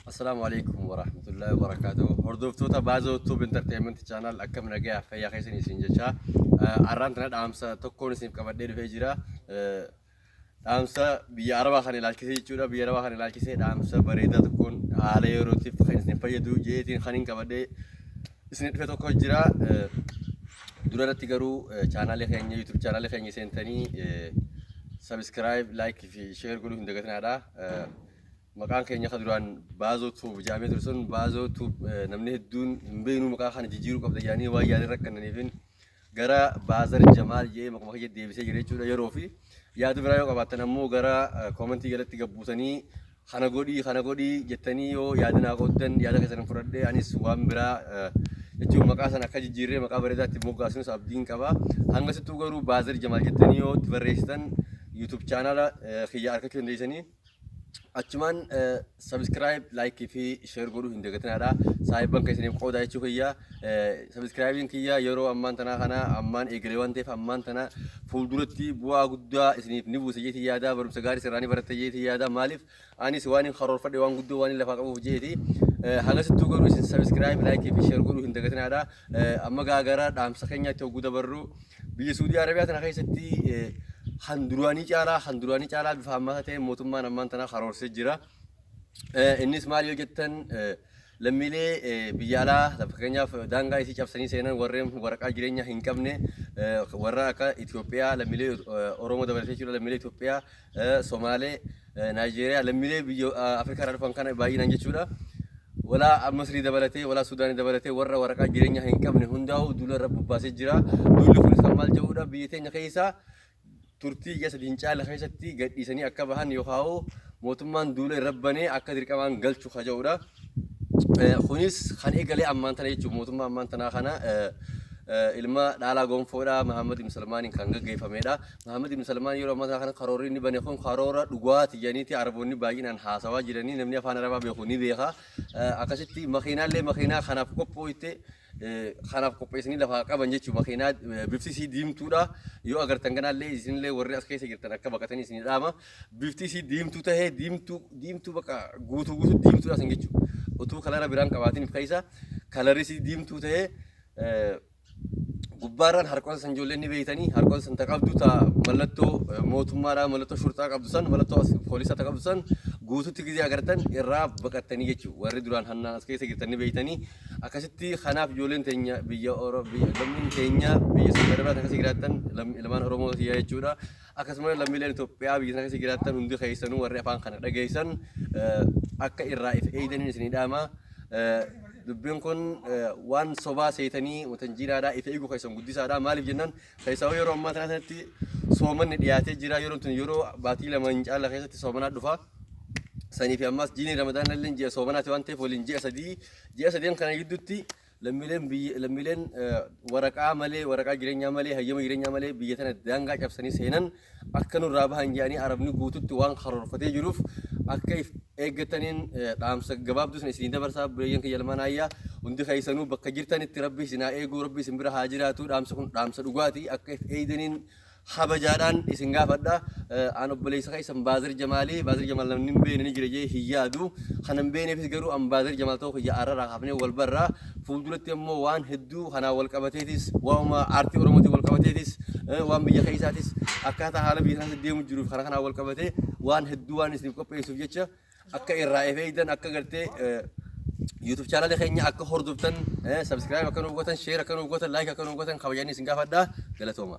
Assalaamu alaikum warahmatullahi wabarakatuh. Hordoftoota Baazoo Tube Entertainment Channel akkam nagayaa fayyaa keessan isin jechaa arraan tana dhaamsa tokkoon isiniif qabadhee dhufee jira. Dhaamsa biyya Arabaa kan ilaalchisee jechuudha. Biyya Arabaa kan ilaalchisee dhaamsa bareedaa tokkoon haala yerootiif kan isin fayyadu jeetiin kan hin qabadhee Isin dhufe tokko jira. Dura irratti garuu chaanaalii keenya YouTube chaanaalii keenya seentanii subscribe, like fi share godhuu hin dagatinaadha. Maqaan keenya kan duraan baazoo tuub jedhamee ture sun baazoo tuub namni hedduun hin beeknu maqaa kana jijjiiruu qabda jedhanii waan yaadin rakkannaniifin gara Baazar Jamaal jedhee maquma kiyya deebisee jira jechuudha yeroo fi yaada biraa yoo qabaattan ammoo gara koomentii jalatti gabbuutanii kana godhii kana godhii jettanii yoo yaada naa qooddan yaada keessan fudhadhee anis waan biraa jechuun maqaa sana akka jijjiirree maqaa bareedaatti moggaasunis abdiin qaba hanga sittuu garuu Baazar Jamaal jettanii yoo itti barreessitan YouTube chaanaala kiyya argachuu dandeessanii. Achumaan subscribe, like fi share godhuu hin dagatinaadha. Saahibban keessaniif qoodaa jechuu kiyya. Subscribe'n kiyya yeroo ammaan tanaa kana ammaan eegalee waan ta'eef ammaan tana fuulduratti bu'aa guddaa isiniif ni buusa jeetii yaada barumsa gaarii sirraa ni baratta jeetii yaada maaliif anis waan hin karoorfadhe waan guddoo waan hin lafaa qabuuf jeeti. Hagasittuu garuu isin subscribe, like fi share godhuu hin dagatinaadha. Amma gaa gara dhaamsa keenyaatti hogguu dabarru biyya Suudii Arabiyaa tana keessatti kan duraanii caalaa kan duraanii caalaa bifa hammaataa ta'een mootummaan ammaan tanaa karoorsee jira. Innis maal yoo jettan lammiilee biyya alaa fakkeenyaaf daangaa isii cabsanii seenan warreen waraqaa jireenyaa hin qabne warra akka Itoophiyaa lammiilee Oromoo dabalatee jechuudha lammiilee Itoophiyaa Somaalee Naayijeeriyaa lammiilee biyya Afrikaa irraa dhufan kana baay'inaan jechuudha. Walaa Masrii dabalatee, walaa Sudaanii dabalatee warra waraqaa jireenyaa hin qabne hundaa'u duula irra bobbaasee jira. Duulli kunis kan maal jedhudha biyya teenya keessaa turtii ji'a sadii hin caalle keessatti gadhiisanii akka bahan yookaan mootummaan duula irra banee akka dirqamaan galchu ka jedhudha. Kunis kan eegale ammaan tana jechuun mootummaa ammaan tanaa kana ilma dhaalaa gonfoodha Mahammad ibn Salmaaniin kan gaggeeffamedha. Mahammad ibn Salmaan yeroo ammaa kana karoorri inni bane kun karoora dhugaati jedhaniiti Araboonni baay'inaan haasawaa jiranii namni afaan Arabaa beeku ni beeka. Akkasitti makiinaallee makiinaa kanaaf qophooyte kanaaf qopheessanii lafaa qaban jechuun makiinaa bifti isii diimtuudha. Yoo agartan ganaallee isinillee warri as keessa jirtan akka baqatanii isin dhaama. Bifti isii diimtuu tahee diimtuu diimtuu baqa guutuu guutuu diimtuudha isin jechuudha. Utuu kalara biraan qabaatiniif keessa kalarri isii diimtuu tahee gubbaarraan harqoota san ijoolleen ni beeytanii harqoota san ta qabdu ta mallattoo mootummaadhaa mallattoo shurxaa qabdu san mallattoo as poolisaa ta qabdu san guututti gizee agartan irraa baqattanii jechuudha. Warri duraan hannaan as keessa jirtan ni beeytanii Akkasitti kanaaf ijoolleen teenya biyya Oro- biyya- lammiin keenya biyya Saudi Arabia irratti akkasii jiraattan lam- ilmaan Oromoo kiyyaa jechuudha. Akkasumas lammiileen Itoophiyaa biyya sana keessa jiraattan hundi keessanuu warri afaan kana dhageessan eh, akka irraa if eegdaniin isinii dhaama. Eh, Dubbiin kun eh, waan sobaa seetanii wanta jiraadhaa if eeguu keessan guddisaadha. Maaliif jennaan keessaa yeroo ammaa kana sanatti soomanni dhiyaatee jira. Yeroon tun yeroo baatii lama hin caalla keessatti soomanaa dhufa. sanii fi ammaas diinii ramadaana illee ji'a soomanaati waan ta'eef waliin ji'a sadii ji'a sadeen kana gidduutti lammiileen biyya lammiileen eh, waraqaa malee waraqaa jireenyaa malee hayyama jireenyaa malee biyya tana daangaa cabsanii seenan akka nurraa bahan jedhanii arabni guututti waan karoorfatee jiruuf akka if eeggataniin eh, dhaamsa gabaabduu sana isinii dabarsaa bireeyyan kiyya lamaan ayyaa hundi keessanuu bakka jirtanitti rabbi isin haa eeguu rabbi isin bira haa jiraatu dhaamsa kun dhaamsa dhugaati akka if eegdaniin Kabajaadhaan isin gaafadha. An obboleessa keessan Baazir Jamaali. Baazir Jamaal namni hin beekne ni jira jee hin yaadu. Kan hin beekneefis garuu an Baazir Jamaal ta'uu kiyya arrarraa kaafnee wal barra. Fuulduratti ammoo waan hedduu kanaan wal qabateetis, waanuma aartii Oromootiin wal qabateetis, eh, waan biyya keessaatis, akkaataa haala biyya kanaatti deemu jiruuf kana kanaan wal qabatee waan hedduu waan isiniif qopheessuuf jecha akka irraa if eegdan akka gartee YouTube channel keenya akka hordoftan subscribe akka nuuf gootan share akka nuuf gootan like akka nuuf gootan kabajanii isin gaafadha galatooma.